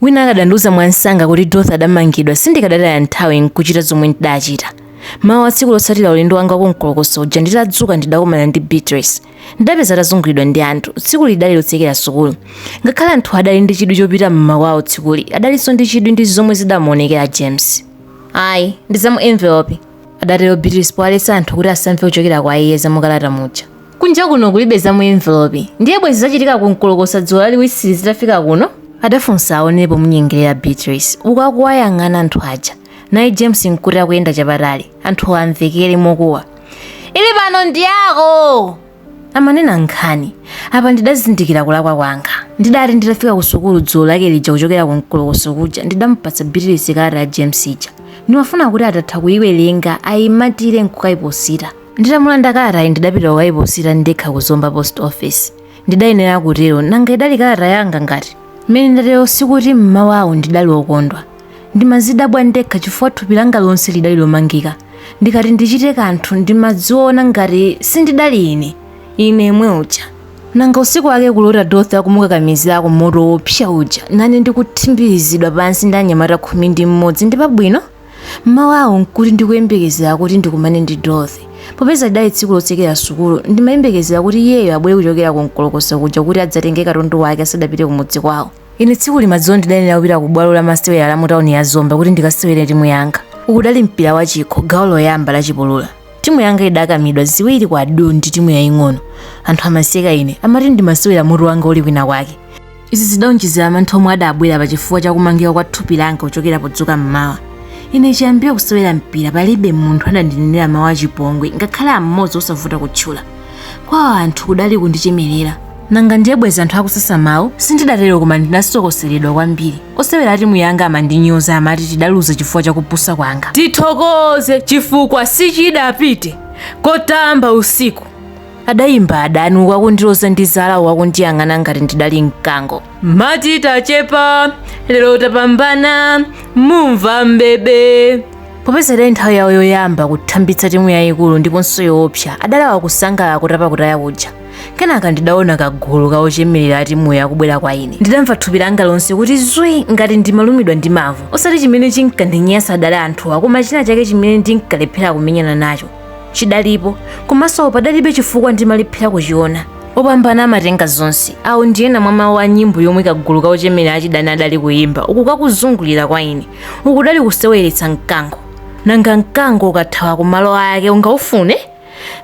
Wina akadandiuza mwamsanga kuti Dorothy adamangidwa, sindikadataya nthawi nkuchita zomwe ndidachita. Mawa wa tsiku lotsatira ulendo wanga wa ku Nkolokosi uja nditadzuka ndidakumana ndi Beatrice. Ndidapeza atazunguliridwa ndi anthu. Tsikuli lidali lotsekera sukulu. Ngakhale anthuwa adali ndi chidwi chopita m'makwawo tsikuli, adalinso ndi chidwi ndi zomwe zidamuonekera James. Ayi, ndi za mu envelope. adatero beatrice powaletsa anthu kuti asamve kuchokera kwa iye za mukalata muja kunja kuno kulibe za mu envelope ndiye bwezi zachitika kumkolokosa dzulo laliwisili zitafika kuno adafunsa aonepo munyengerera beatrice uku akuwayang'ana anthu aja naye james nkuti akuyenda chapatali anthu amvekere mokuwa ili pano ndi yako amanena nkhani apa ndidazindikira kulakwa kwanga ndidati nditafika kusukulu dzulo lake lija kuchokera kumkolokoso kuja ndidampatsa bitilisi kalata ya james ija ndimafuna kuti atatha kuyiwerenga ayimatire nkukayiposita nditamulanda kalatayi ndidapita kukayiposita ndekha ku zomba post office ndidayenera kutero nanga idali kalata yanga ngati mmene ndatero sikuti mmawawo ndidali wokondwa ndimadzidabwa ndekha chifukwa thupi langa lonse lidali lomangika ndikati ndichite kanthu ndimadziona ngati sindidali ine yemwe uja nanga usiku wake kulota dothi akumukakamizira ku moto wopsa uja nane ndikuthimbizidwa pansi ndi anyamata khumi ndi mmodzi ndi pabwino mmawu awo nkuti ndikuyembekezera kuti ndikumane ndi dothi popeza lidali tsiku lotsekera sukulu ndimayembekezera kuti iyeyo abwere kuchokera ku mkolokoso kuja kuti adzatenge katundu wake asadapite kumudzi kwawo Ine tsikuli madzulo ndidayenera kupita ku bwalo la masewera la mu tauni ya Zomba kuti ndikasewere timu yanga. Ukudali mpira wa chikho gawo loyamba la chipulula. Timu yanga idakamidwa ziwiri kwa du ndi timu yaying'ono. Anthu amaseka ine, amati ndimasewera mutu wanga uli kwina kwake. Izi zidaonjezera mantha omwe adabwera pa chifukwa cha kumangika kwa thupi langa kuchokera podzuka m'mawa. Ine chiyambire kusewera mpira palibe munthu adandinenera mawu achipongwe ngakhale am'modzi osavuta kutchula. kwa anthu kudali kundichemerera nanga ndiye bwezi anthu akusasa mawu sindidatero koma ndinasokoseredwa kwambiri osewera timu yanga amandinyoza amati tidaluza chifukwa chakupusa kwanga tithokoze chifukwa sichidapite kotamba usiku adayimba adani wakundiloza ndi zala wakundiyang'ana ngati ndidali mkango amati tachepa lero tapambana mumva mbebe popeza idali nthawi yawo yoyamba kuthambitsa timu yayikulu ndiponso yoopsa adalawa kusangalala kutapa kutaya kuja kenaka ndidaona kagulu ka ochemerera a timuyo akubwera kwa ine ndidamva thupi langa lonse kuti zwi ngati ndimalumidwa ndi mavu osati chimene chinkandinyasa adali anthuwa koma china chake chimene ndinkalephera kumenyana nacho chidalipo komanso padalibe chifukwa ndimalephera kuchiona opambana amatenga zonse awo ndi ena mwa mawu a nyimbo yomwe kagulu ka ochemerera achidani adali kuyimba uku kakuzungulira kwa ine uku kudali kuseweretsa mkango nanga mkango ukathawa ku malo ake ungaufune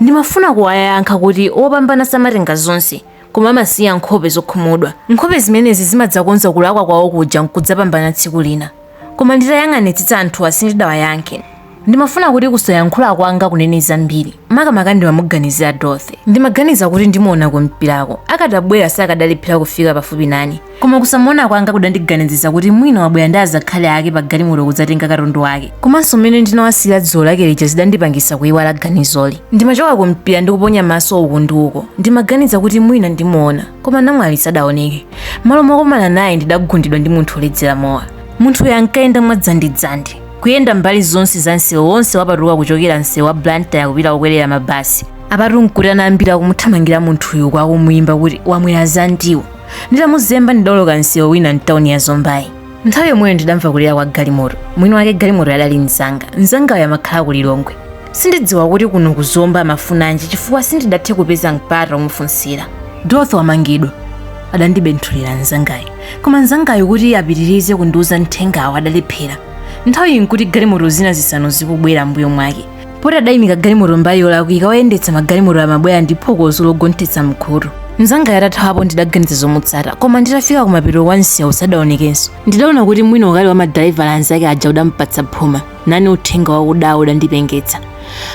ndimafuna kuwayankha kuti opambana samatenga zonse koma amasiya nkhope zokhumudwa nkhope zimenezi zimadzakonza kulakwa kwawo kuja nkudzapambana tsiku lina Koma nditayang'anitsitsa anthuwa sindidawayankhe. Ndimafuna kuti kusayankhula kwanga kunene zambiri. Makamaka ndimamuganizira Dorothy. Ndimaganiza kuti ndimuona kumpirako. Akadabwera sakadalephera kufika pafupi nane. Koma kusamuona kwanga kudandiganizitsa kuti mwina wabwera ndi azakhali ake pagalimoto kudzatenga katundu wake. Komanso mmene ndinawasiyira dzulo lake lija zidandipangitsa kuiwala ganizoli. Ndimachoka kumpira ndi kuponya maso uku ndi uko. Ndimaganiza kuti mwina ndimuona. Koma namwali sadaoneke. m'malo mokumana naye ndidagundidwa ndi munthu woledzera mowa munthuyo ankayenda mwadzandidzandi kuyenda mbali zonse za msewu wonse wapatuka kuchokera msewu wa blantyre kupita kukwerera mabasi apatu nkuti ana ambiri akumuthamangira munthuyu uku akumuyimba kuti wamwera zandiwo nditamuzemba ndidawoloka msewu wina mtawuni ya zombayi nthawi yomweyo ndidamva kulira kwa galimoto mwini wake galimotoyo adali mzanga mzangayo amakhala ku lilongwe sindidziwa kuti kuno ku zomba amafunanji chifukwa sindidathe kupeza mpata omufunsira dorothy wamangidwa adandibenthulira mnzangayo koma mnzangayo kuti apitirize kundiuza mthengawo adalephera nthawiyi nkuti galimoto zina zisanu zikubwera mbuyo mwake poti adayimika galimoto mbali yolakwika oyendetsa magalimoto amabwera ndi phokoso logonthetsa mkhutu mnzangayo atathawapo ndidaganiza zomutsata koma nditafika kumapeto kwa msewu sadaonekenso ndidaona kuti mwina ukali wa madalaivala anzake aja udampatsa phuma nane uthenga wakudawo udandipengetsa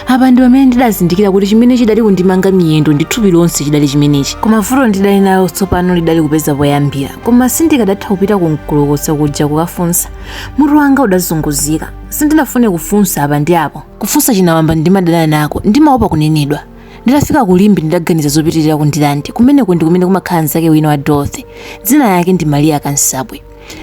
apa ndi pamene ndidazindikira kuti chimene chidali kundimanga miyendo ndi thupi lonse chidali chimenechi koma vuto ndidali nalo tsopano lidali kupeza poyambira koma sindikadatha kupita ku mkulukusa kuja kukafunsa mutu wanga udazunguzika sindinafune kufunsa apa ndi apo kufunsa chinawamba ndimadana nako ndimaopa kunenedwa nditafika ku limbe ndidaganiza zopitirira ku ndirande kumeneko ndi kumene kumakhala mnzake wina wa dorothy dzina lake ndi maria kansabwe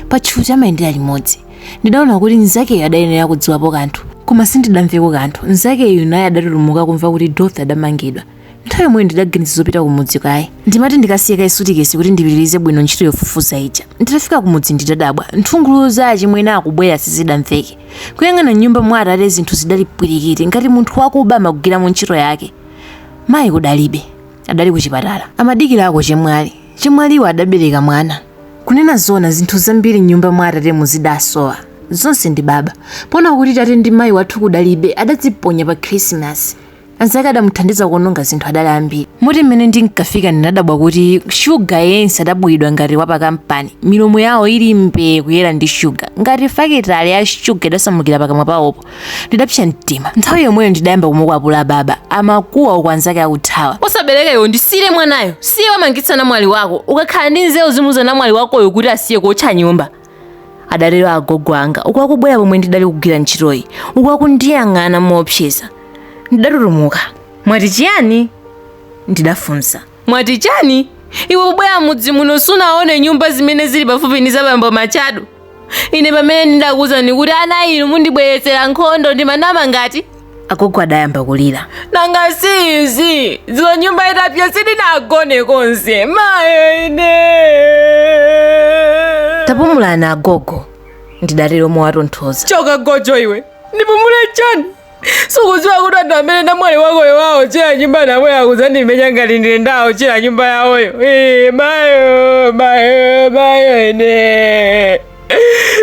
patchuthi amayendera limodzi ndidaona kuti mnzakeyo adayenera kudziwapo kanthu koma sindidamveko kanthu mnzakeyu naye adatutumuka kumva kuti dorothy adamangidwa nthawi yomweyo ndidaganiza zopita kumudzi kaye ndimati ndikasiye kaye sutikesi kuti ndipitirize bwino ntchito yofufuza ija nditafika kumudzi ndidadabwa nthungululu za achimwene akubwera sizidamveke kuyang'ana m'nyumba mwa atate zinthu zidali pwirikiti ngati munthu wakuba amagwiramo ntchito yake mayi kudalibe adali kuchipatala amadikirako chemwali Chemwaliwo adabereka mwana. Kunena zoona zinthu zambiri m'nyumba mwa atatemu zidasowa. Zonse ndi baba. Poona kuti tate ndi mayi wathu kudalibe, adadziponya pa Khirisimasi. Anzake adamuthandiza kuononga zinthu adali ambiri. Moti mmene ndinkafika ndinadabwa kuti shuga yense adabwiridwa ngati wa pakampani, milomo yawo ili mbee kuyera ndi shuga, ngati fakitale ya shuga idasamukira pakamwa pawopo. ndidapsa mtima nthawi yomweyo ndidayamba kumukwapula baba amakuwa uku anzake akuthawa osabereka iwe ndisiire mwanayo siye wamangitsa namwali wako ukanakhala ndi nzeru uzimuuza namwali wakoyo kuti asiye kuotcha nyumba adatero agogo anga uku akubwera pomwe ndidali kugwira ntchitoyi uku akundiyang'ana moopseza ndidatutumuka mwati chiyani ndidafunsa mwati chiyani iwe ubwera mudzi muno sunaone nyumba zimene zili pafupi ndi zabambo matchado ine pamene ndidakuwuza kuti ana inu mundibweretsera nkhondo ndimanama ngati agogo adayamba kulira nanga si izi dzulo nyumba itapya sindinagone konse mayo ine tapumulani agogo ndidatero mowatonthoza choka gojo iwe ndipumule chani sukuziwa kuti anthu amene namwali wakoyo wawotchera nyumba nawo akuzandimenya ngati ndine ndawotchera nyumba yawoyo mayo mayo mayo ine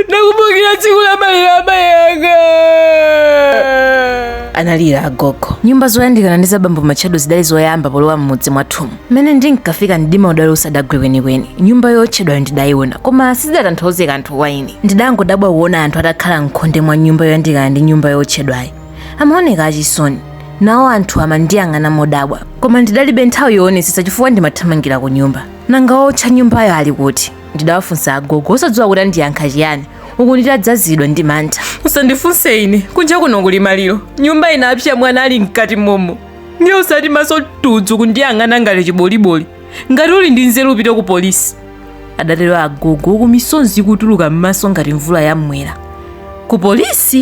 ndakumbukira tsiku la maliro amayi anga analira agogo nyumba zoyandikana ndi zabambo matchado zidali zoyamba polowa m'mudzi mwathumu mmene ndinkafika mdima udali usadagwe kwenikweni nyumba yootchedwayo ndidayiona koma sizidatanthauze kanthu kwa ine ndidangodabwa kuona anthu atakhala mkhonde mwa nyumba yoyandikana ndi nyumba yootchedwayo amaoneka achisoni nawo anthu amandiyang'ana modabwa koma ndidalibe nthawi yoonetsetsa chifukwa ndimathamangira ku nyumba nanga wootcha nyumbayo ali kuti ndidawafunsa agogo osadziwa kuti andiyankha chiyani uku nditadzazidwa ndi mantha usandifunse ine kunja kuno kuli maliro nyumba inapsa mwana ali mkati momo ndiye usati maso tudzu kundiyang'ana ngati chiboliboli ngati uli ndi nzeru upite ku polisi adatero agogo uku misonzi ikutuluka m'maso ngati mvula ya mmwera ku polisi